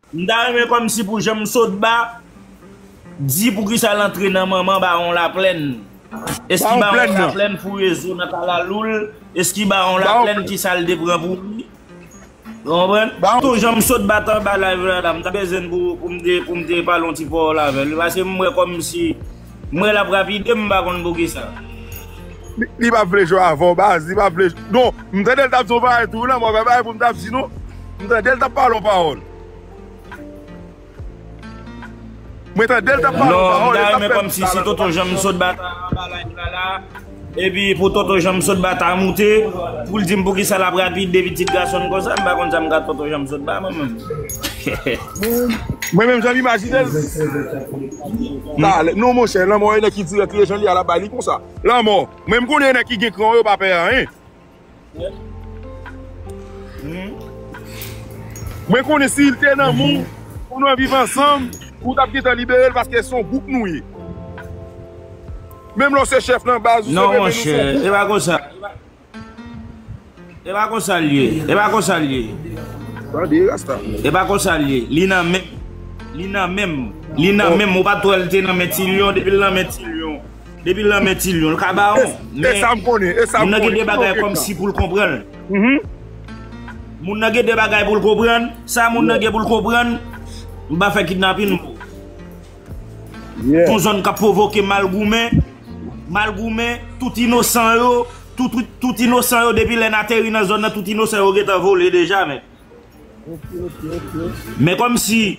M ta renmen kòmsi pou janm sot ba di poukisa l antre nan manman bawon laplèn eski bawon laplèn fouye zo nan kalalou l eski bawon laplèn ki sa l te pran pou li. Nou konprann? Ba tou jan m sot bat anba live la la m ta bezwen n pou m te pale yon ti pawòl avè l paske m wè kòmsi m wè l ap rapide m m pa konn poukisa. Li pap vle jwe avè w baz, li pap vle non m tande l t ap di yon bagay tou la m wè pa bagay pou m t ap di non m tande l t ap pale yon pawòl. Mwen tandel tap pale yon pawòl el tap fè m sa la Mwen janm sot bata anba live la la Epi pou tonton janm sot bata moute Poul dim poukisa lap rapid de pitit gasonn konsa M pa konn sa m ka tonton janm sot ba mwen menm Mwen menm janm imajinel talè non monchè lanmò e nèg ki dirèk li e jan li a lap bay li konsa lanmò Mwen m konnen nèg ki gen kran yo pa pè anyen. Mwen konnen si li te nan men w pou nou viv ansanm ou tap gentan libere l paske son gwoup nou ye menm lè w se chèf nan baz ou se vre men nou son gwoup. Epa konsa Epa konsa l ye Epa konsa l ye Tande rasta Epa konsa l ye Li nan menm Li nan menm Li nan menm ou pat wè l te nan men ti lion depi l nan men ti lion. Depi lan men ti lion l ka ba on. E sa m konnen, e sa m konnen. Moun nan gen de bagay kom si pou l konprann. Moun nan gen de bagay pou l konprann. Sa moun nan gen pou l konprann. M pa fè kidnapin m. Son zon kap provoke mal goumen. Mal goumen, tout inosan yo. Tout inosan yo depi lè n ateri nan zon nan tout inosan yo gen tan vole deja men. Men kom si.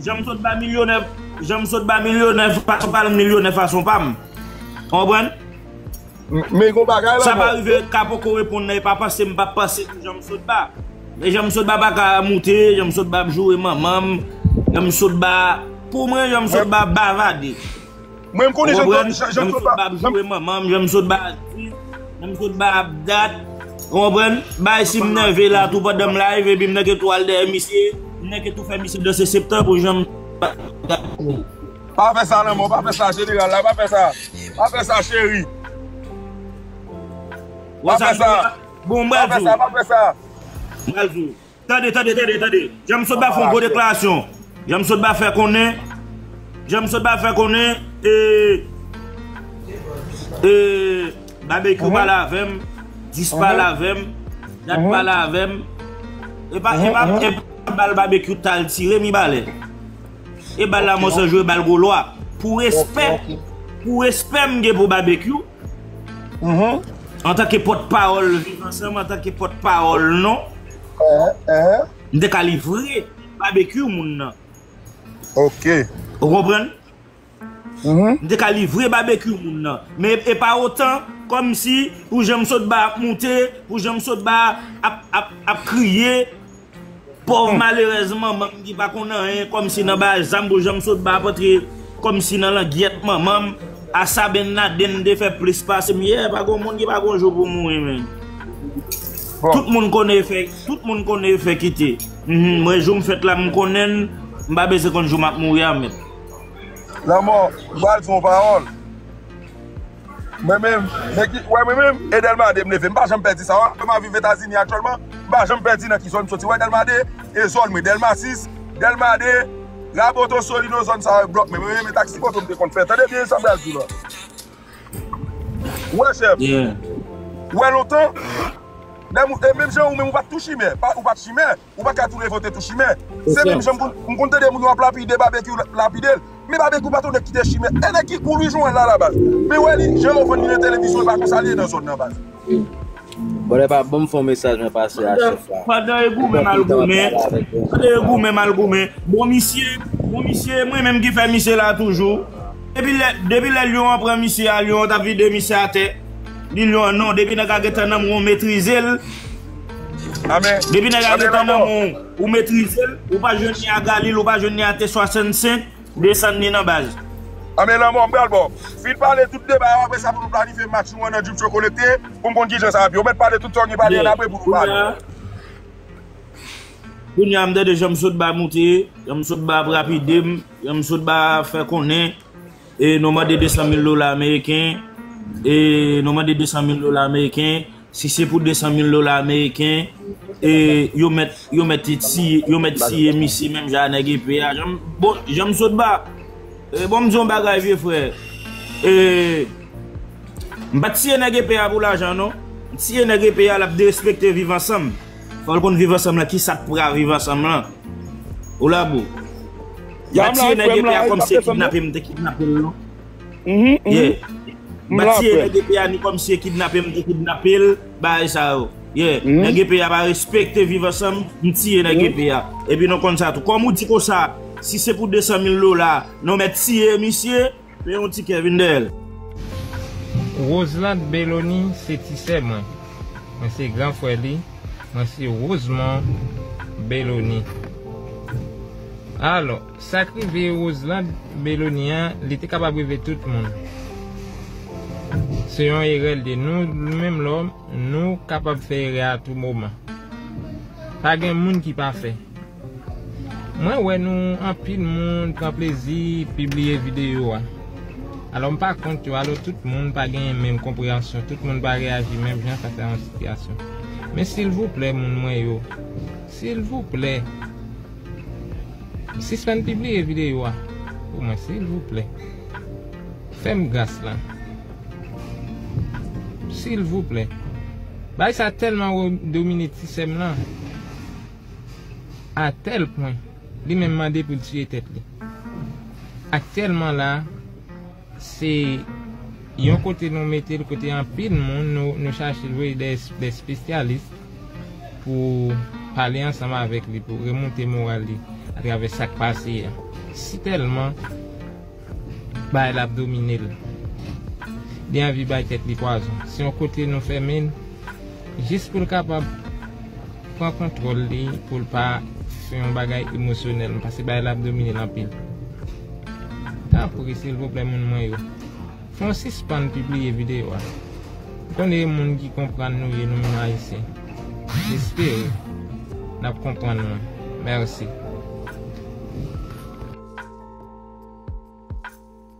Janm sot ba milyonè, janm sot ba milyonè fason pa m milyonè fason pa m. Ou konprann? Men gon bagay la. Sa pa rive ka poko reponn nan e pa panse m pa panse tou janm sot ba. Men janm sot ba pa ka moute, janm sot ba ap joure manman m, janm sot ba pou mwen janm sot ba bavade. Mwen m konnen jan klod jan klod pa. Jan m sot ba ap joure manman m jan m sot ba ap di jan m sot ba ap dat ou konprann bay si m nève la tou pandan m live epi m nan gen tou al dèyè misye m nan gen tou fè misye danse se ptan pou jan m Pa fè sa lanmò pa fè sa jeneral la pa fè sa pa fè sa cheri pa fè sa pa fè sa pa fè sa. Tande, tande, tande, tande! Janm sot ba fè yon gwo deklarasyon. Janm sot ba fè konnen, janm sot ba fè konnen, e, e, Babekyou pa la avè m, Dis pa la avè m, Dat pa la avè m, e pa, e pa, e pa bal Babekyou ta al tire Mibalè. E bal la Monsèl jwe bal Golwa. Pou respè, pou respè m gen pou Babekyou. Antanke pòt pawòl Viv Ansanm, antanke pòt pawòl non, m te ka livre Babekyou moun nan. Ok. Ou konprann? M te ka livre Babekyou moun nan. Men e pa otan, kòm si pou jan m sot ba ap moute, pou jan m sot ba ap kriye. Pòv malerèz manman m ki pa konn anyen kòmsi nan bay zam pou janm sot ba pòtre kòmsi nan langyèt manman m a sa Ben Laden te fè plis pase m yè pa gon moun ki pa gon jou pou mouri menn tout moun konnen efè tout moun konnen efè kite mwen jou m fèt la m konnen l m pa bezwen konn jou m ap mouri a menn. Lanmò m pral di w yon pawòl. Mwen menm, men ki, wè mwen menm, e Delma 2 m leve, m pa janm pèdi sa w a, Delma viv Etazini aktyèlman, m pa janm pèdi nan ki zòn m soti, wè Delma 2, e zòn mwen, Delma 6, Delma 2, Raboto, Solino, zòn sa yo e blòk mwen, mwen menm e taksi moto m te konn fè, tande byen sa m pral di w lan, wè chèf, wè lontan, lè m, e menm jan ou menm ou pa t tou chimè, ou pa t chimè. ou pa ka tou revolte tou chimè se menm jan m konn tande moun yo ap lapide babekyou lapide l men babekyou pa t yon nèg ki te chimè e nèg ki kou Louis Joël la ala baz men wè li jan yo vann li nan televizyon e pa konsa li ye nan zòn nan baz. Bon e pa banm fon mesaj mwen pase a chef la. Pandan e goumen mal goumen pandan e goumen mal goumen bon misye bon misye mwen menm ki fè misye la toujou depi lè depi lè lyon an pran misye a lyon an tap vide misye atè li lyon an non depi nèg la gentan nan mwen metrize l Depi nèg la gen tan nan men w, ou metrize l, ou pa jwenn li a Galil, ou pa jwenn li a T 65, desann li nan baz. Anben lanmò m pral ba w. Fin pale tout deba yo apresa pou nou planifye match nou an nan Djoutcho Connecté pou m konn kijan sa ap ye. Ou mèt pale tout sa w gen pou pale an apre pou nou pale. Kounya m tande janm sot ba moute, janm sot ba ap rapide m, janm sot ba fè konnen e nou mande 200 mil dola ameriken e nou mande 200 mil dola ameriken. Si se pou 200 mil dola ameriken, yo mèt, yo mèt tiye, yo mèt tiye misye menm jan a nèg epe a. Jan m, bon, jan m sot ba. E bon m di w yon bagay vye frè. E, m pa t tiye nèg epe a pou lajan non. M tiye nèg epe a l ap derespekte viv ansanm. Fò l konn viv ansanm lan, ki sa k pra viv ansanm lan. Ou la bro? M pa tiye nèg epe a kòm se kidnape m te kidnape l non. Yeah Mpa tiye nèg epe a ni kòmsi e kidnape m te kidnape l bagay sa yo Yeah nèg epe a pa respekte viv ansanm m tiye nèg epe a epi nou konn sa tou kòm ou di konsa si se pou 200 mil dola nou mèt tiye misye men yon ti kè vin dèyè l. Roselande Bellony se ti sè mwen. Mwen se gran frè li. Mwen se Rosemond Bellony. Alò. Sak rive Roselande Meloni an li te kapab rive tout moun se yon erè li te nou menm lòm nou kapab fè erè a tou moman pa gen moun ki pafè mwen wè nou anpil moun pran plezi pibliye videyo a alò m pa kont yo alò tout moun pa gen menm konpreyansyon tout moun pa reyaji menm jan fas a yon sitiyasyon men silvouplè moun mwen yo silvouplè. Sispann pibliye videyo a pou mwen silvouplè fèm gras la silvouplè bagay sa tèlman ro domine ti sèm lan a tèl pwen li menm mande poul tiye tèt li aktyèlman la. Se Yon kote nou metel kote anpil moun nou chache jwe de spesyalis pou pale ansanm avèk li pou remoute moral li atravè sak pase a si tèlman bagay la ap dominel li anvi bay tèt li pwazon se yon kote nou fèmen. Jis pou l kapab pran kontwòl li pou l pa sou yon bagay emosyonèl pase bagay la ap domine l anpil. Tanpri silvouplè moun mwen yo, fè yon sispann pibliye videyo a. M konnen e moun ki konprann nou ye nou menm Ayisyen. M espere n ap konprann mwen. Mèsi.